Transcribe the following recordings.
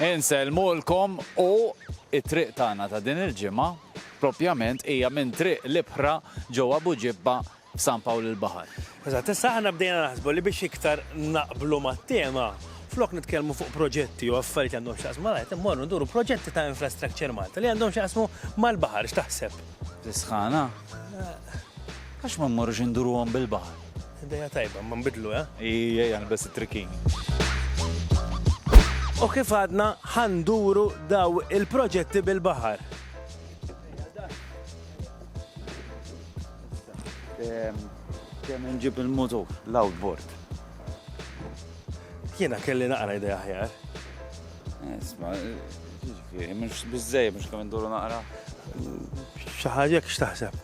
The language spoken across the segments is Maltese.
Insellmulkom u t-triq tagħna ta' din il-ġimgħa propjament hija minn Triq l-Ibħra ġewwa Buġibba f'San Pawl il-Baħar. Eżatt, issa aħna bdejna naħsbu li biex iktar naqblu mat-tema, flok nitkellmu fuq proġetti jew affarijiet li għandhom x'jaqsmu mal-art, immorru nduru proġetti ta' Infrastructure Malta li għandhom x'jaqsmu mal-baħar, x'taħseb? Tisħana? Għax ma mmorrux induruhom bil-baħar? Ideja tajba, imma nbidlu, eh? Ii, ejja nilbes it-trikin. U kif għadna ħa nduru daw il-proġetti bil-baħar. Kemm nġib il-motor, l-outboard. Jiena kelli naqra idea ħjar. Isma, ġifieri, mhux biżej, mhux kemm nduru naqra. Xi ħaġa x'taħseb?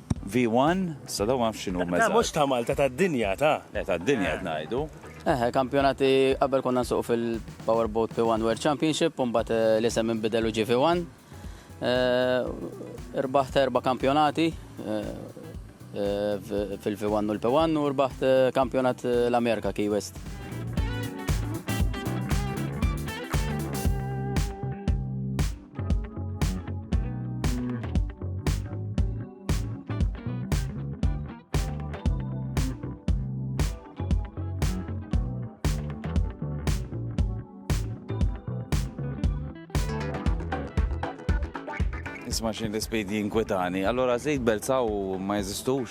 V1, sa dawn ma nafx x'inhuma eżatt. Le mhux ta' Malta, tad-dinja, ta'. Le tad-dinja qed ngħidu. Eħe, il-kampjonati qabel konna nsuqu fil-Power Boat P1 World Championship u mbagħad l-isem inbidel u ġie V1. Irbaħt erba' kampjonati fil-V1 u l-P1 u rbaħt kampjonat l-Amerika Key West. nisma' xejn l-ispejdi jinkwetani. Allora żejt belzaw ma jeżistux?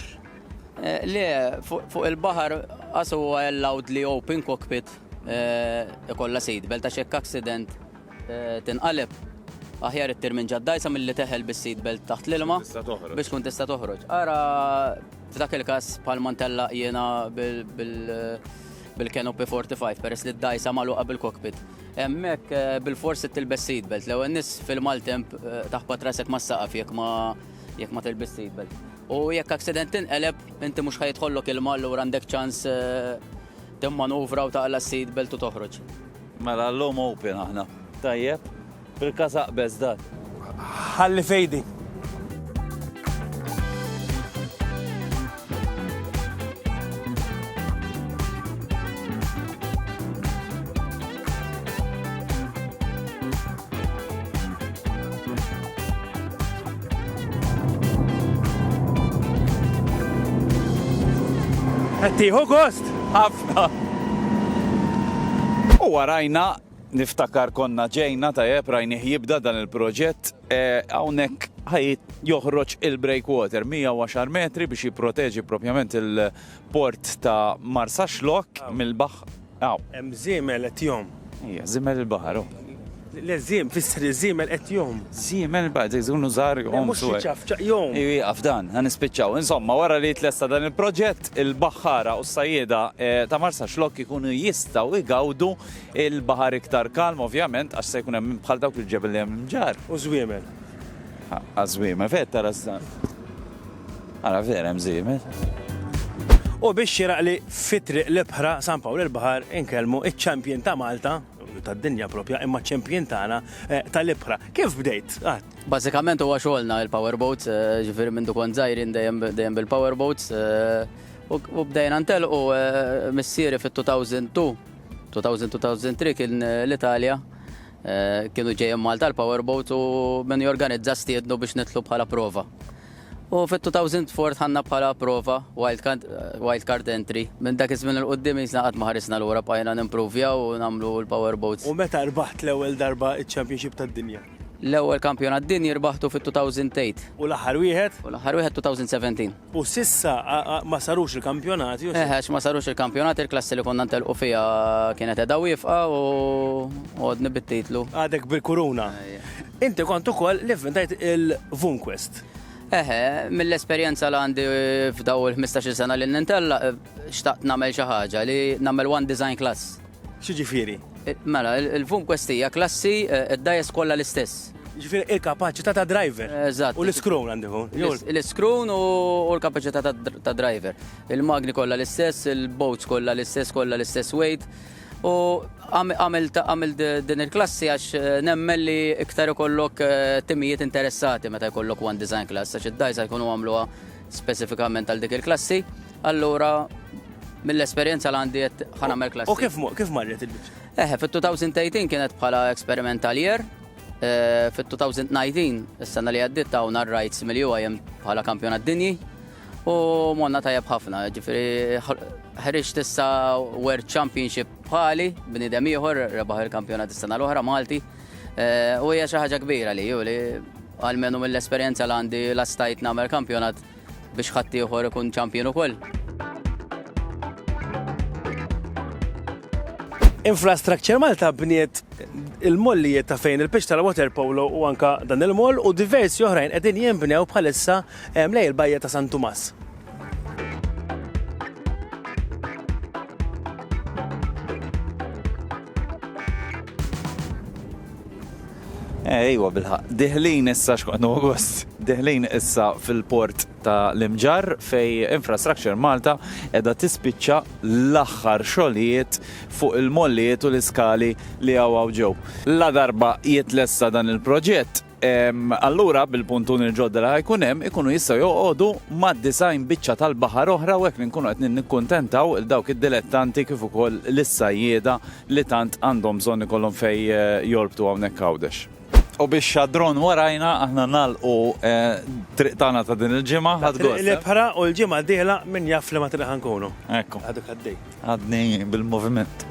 Eh, le, fuq il-baħar għasu huwa allowed li open cockpit eh, ikolla seat belt għax hekk accident tinqaleb. Aħjar ittir minn ġaddajsa milli teħel bis-seat belt taħt l-ilma biex tkun tista' toħroġ. Ara f'dak il-każ bħal mantella jiena bil-canopy 45 peress li d-dajsa magħluqa bil-cockpit. Hemmhekk eh, bil-forsi tilbes seat belt. L-ewwel nies fil-maltemp eh, taħbat rasek ma' saqaf jekk ma jekk ma tilbis seat belt. U jekk accident tinqeleb inti mhux ħajtħollok il-mal u għandek ċans eh, timmanuvra u taqla s-seat belt u toħroġ. Mela llum open aħna. Tajjeb. Bil-każ aqbeż dak. Ħalli f'idi. Qed tieħu gost? Ħafna. U warajna niftakar konna ġejna tajjeb rajnih jibda dan il-proġett eh, hawnhekk ħajt joħroġ il-breakwater 110 metri biex jipproteġi propjament il-port ta' Marsa Xlok mill-baħħ Hawn. Hemm żiemel qed jgħomm. Ejja, żiemel il-baħar hu. Le, żiem, fisser iż-żiemel qed jgħomm. Żiemel il-baħar, se jkunu żgħar jgħomm. Mhux jiċafċaq, jgħomm. Ejja, ieqaf dan, ħa nispiċċaw. Insomma, wara li jitlesta dan il-proġett, il-baħħara u s-sajjieda ta' Marsaxlokk ikunu jistgħu jgawdu l-baħar iktar kalm, ovvjament, għax se jkun hemm bħal dawk il-ġebel li hemm imġarr. U żwiemel. Ħa, żwiemel, fejn qed tara s-. Ara vera hemm żiemel. U biex xiraqli fit-triq l-ibħra San Pawl il-Baħar inkellmu iċ-champion ta' Malta tad-dinja propja imma ċempjien tagħna eh, tal-ibħra. Kif bdejt? Ah. Bażikament huwa xogħolna il-powerboats, eh, ġifieri minn dukon żgħirin dejjem bil-powerboats eh, u bdejna ntelqu missieri fit-2002 2002-2003 kien l-Italja Kienu ġejjin Malta l-Power Boat u min jorganizza stiednu biex nitlu bħala prova. U fit-2004 ħanna bħala prova wildcard entry. Minn dak iż-żmien il-qudiem jisna qatt ma ħarisna lura bqajna nimpruvjaw u nagħmlu l-power boats. U meta rbaħt l-ewwel darba ċ-Championship tad-Dinja? L-ewwel Kampjonat Dinji rbaħtu fit-2008. U l-aħħar wieħed? U l-aħħar wieħed 2017. U s'issa ma sarux il-kampjonati? Eh, għax ma sarux il-kampjonati, il-klassi li konna ntelqu fija kienet edha wifqa u għodni bit-titlu. Għadek bil-kuruna. Inti kont ukoll li vvintajt il-Vunquest. Eħe, mill-esperjenza li għandi f'daw il-15 sena li nintella, xtaqt namel xi ħaġa li namel one design class. X'jiġifieri? Mela, il-VUM Quest hija klassi, id-dajes kollha l-istess. Jiġifieri il-kapaċità ta' driver. Eżatt. U l-iskrown għandi ikun. jew l- L-iskrown u u l-kapaċità ta' dr- ta' driver. Il-magni kollha l-istess, il-boats kollha l-istess, kollha l-istess weight. U għam- għamilt għamilt d- din il-klassi għax eh, nemmen li iktar ikollok eh, timijiet interessati meta jkollok one design class għax id-dajsa jkunu għamluha speċifikament għal dik il-klassi. Allura, mill-esperjenza li għandi qed ħa nagħmel klassi. U kif kif marret il-biċċa? Eħe, fit-2018 kienet bħala experimental year, eh, fit-2019 is-sena li għaddiet ta' hawn rights mill-UIM bħala kampjonat dinji u monna tajjeb ħafna, ġifieri ħriġ tissa World Championship bħali bnidem ieħor rebaħ il-kampjonat is-sena l-oħra Malti eh, u hija xi ħaġa kbira li ju li għalmenu mill-esperjenza li għandi lastajt nagħmel kampjonat biex ħaddieħor ikun champion ukoll. Infrastructure Malta bniet il-mollijiet ta' fejn il-pitch tal-water polo u anka dan il-moll u diversi oħrajn qegħdin jinbnew bħalissa eh, mlej il-bajja ta' San Tumas. Eh, iwa bilħaq. Diħlin issa x'kont August. Diħlin issa fil-port ta' l-Imġar fej Infrastructure Malta edha tispiċċa l-aħħar xogħlijiet fuq il-mollijiet u l-iskali li għawaw ġew. La darba jitlessa dan il-proġett, allura bil-puntuni l-ġodda li ħajkun hemm ikunu jistgħu joqogħdu ma' disajn biċċa tal-baħar oħra u hekk li nkunu qed nikkuntentaw il dawk id-dilettanti kif ukoll lis-sajjieda li tant għandhom bżonn ikollhom fejn jorbtu hawnhekk Għawdex. U biex xadron warajna aħna nagħlqu t-triq tagħna ta' din il-ġimgħa. Ħadd gost! Triq l-ibħra u l-ġimgħa d-dieħla min jaf f'liema triq ħa nkunu. Ekku. Għadek għaddej. Għadni bil-moviment.